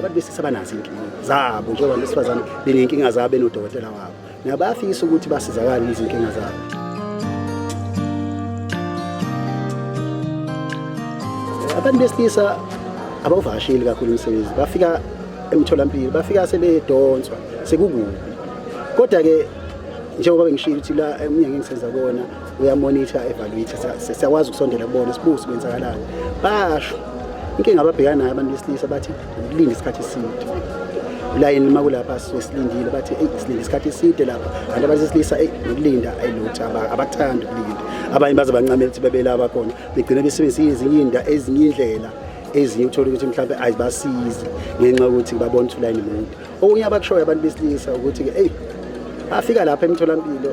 abantu besilisa banazo inkinga zabo njengoba besifazane benenkinga zabo benodokotela wabo nabo bayafisa ukuthi basizakale izinkinga zabo abantu besilisa abawuvakasheli kakhulu umsebenzi bafika emtholampilo bafika sebedonswa sekukubi kodwa-ke njengoba bengishilo ukuthi la emnyangeni senza kona uyamonitha evaluate siyakwazi ukusondela kubona sibusi kwenzakalani basho inkinga ababhekana nayo abantu besilisa bathi ukulinde isikhathi eside ulayini uma kulapha sisuke silindile bathi eyi silinde isikhathi eside lapha kanti abantu besilisa eyi nokulinda ayilutho abakuthandi ukulinda abanye baze bancamela ukuthi bebelaba khona begcine besebenzisa ezinye inda ezinye indlela ezinye uthole ukuthi mhlawumbe ayibasizi ngenxa yokuthi babona ukuthi ulayini mude Okunye abakushoyo abantu besilisa ukuthi-ke eyi bafika lapha emtholampilo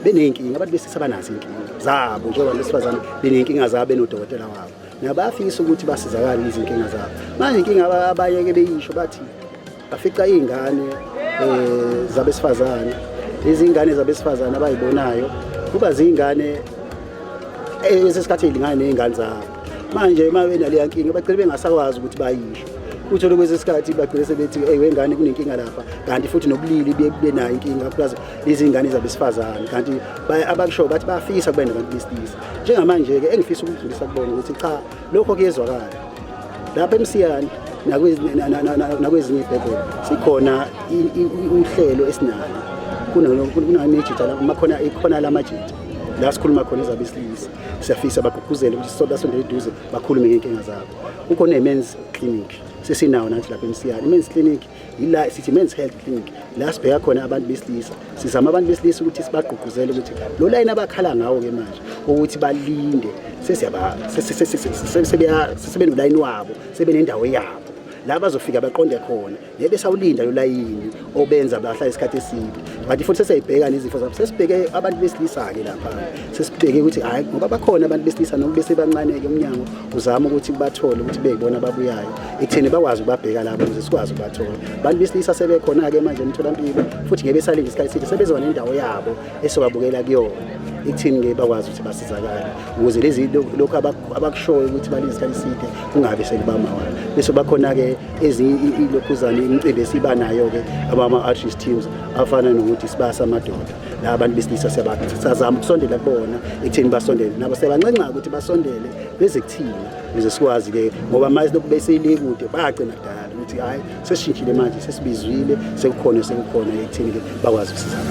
beney'nkinga abantu besilisa banazo iy'nkinga zabo njengoba besifazane beney'nkinga zabo benodokotela wabo nabo bayafisa ukuthi basizakale izinkinga zabo manje inkinga abayeke beyisho bathi bafica iy'ngane um zabesifazane izingane zabesifazane abayibonayo kuba ziy'ngane esesikhathi ey'lingane ney'ngane zabo manje uma benaleya nkinga bagcine bengasakwazi ukuthi bayisho uthole kwesinye isikhathi bagcine sebethi eyi wengane kunenkinga lapha kanti futhi nobulili buye kube nayo inkinga plus izingane zabesifazane kanti abakushoyo bathi bayafisa kuba nabantu besilisa njengamanje-ke engifisa ukudlulisa kubona ukuthi cha lokho kuyezwakala lapha emsiyane nakwezinye ibhebhela sikhona uhlelo esinalo kunamejita amakhona ikhona la majita la sikhuluma khona ezabesilisa siyafisa bagqugquzele ukuthi sisondasondele eduze bakhulume ngenkinga zabo kukho ne-mens clinic sesinawo nathi lapha emsiyane i-mens clinic yila sithi men's health clinic la sibheka khona abantu besilisa sizama abantu besilisa ukuthi sibagqugquzele ukuthi lo layini abakhala ngawo-ke manje ukuthi balinde sesebenolayini wabo sebenendawo yabo la bazofika baqonde khona ngeke sawulinda lo layini obenza bahlala isikhathi eside kanti futhi sesiyibheka nezifo zabo sesibheke abantu besilisa-ke lapha sesibheke ukuthi hhayi ngoba bakhona abantu besilisa noma besebancane-ke umnyango uzama ukuthi bathole ukuthi beyibona ababuyayo ekutheni bakwazi ukubabheka labo ukuze sikwazi ukubathola abantu besilisa sebekhona-ke manje emtholampilo futhi ngeke besalinde isikhathi eside sebezoba nendawo yabo esizobabukela kuyona ekutheni-ke bakwazi ukuthi basizakale ukuze lezi lokhu abakushoyo ukuthi balinde isikhathi eside kungabi selibamayala bese bakhona-ke ezinye ilokhuzane imicimbi esiba nayo-ke abama-artist teams afana nokuthi sibasa amadoda la abantu besilisa sazama ukusondela kubona ekutheni basondele nabo sebancenca ukuthi basondele beze kuthina beze sikwazi-ke ngoba manje lokhu beseyilekude bagcina kudala ukuthi hhayi sesishintshile manje sesibizwile sekukhona sekukhona ekutheni-ke bakwazi ukusizana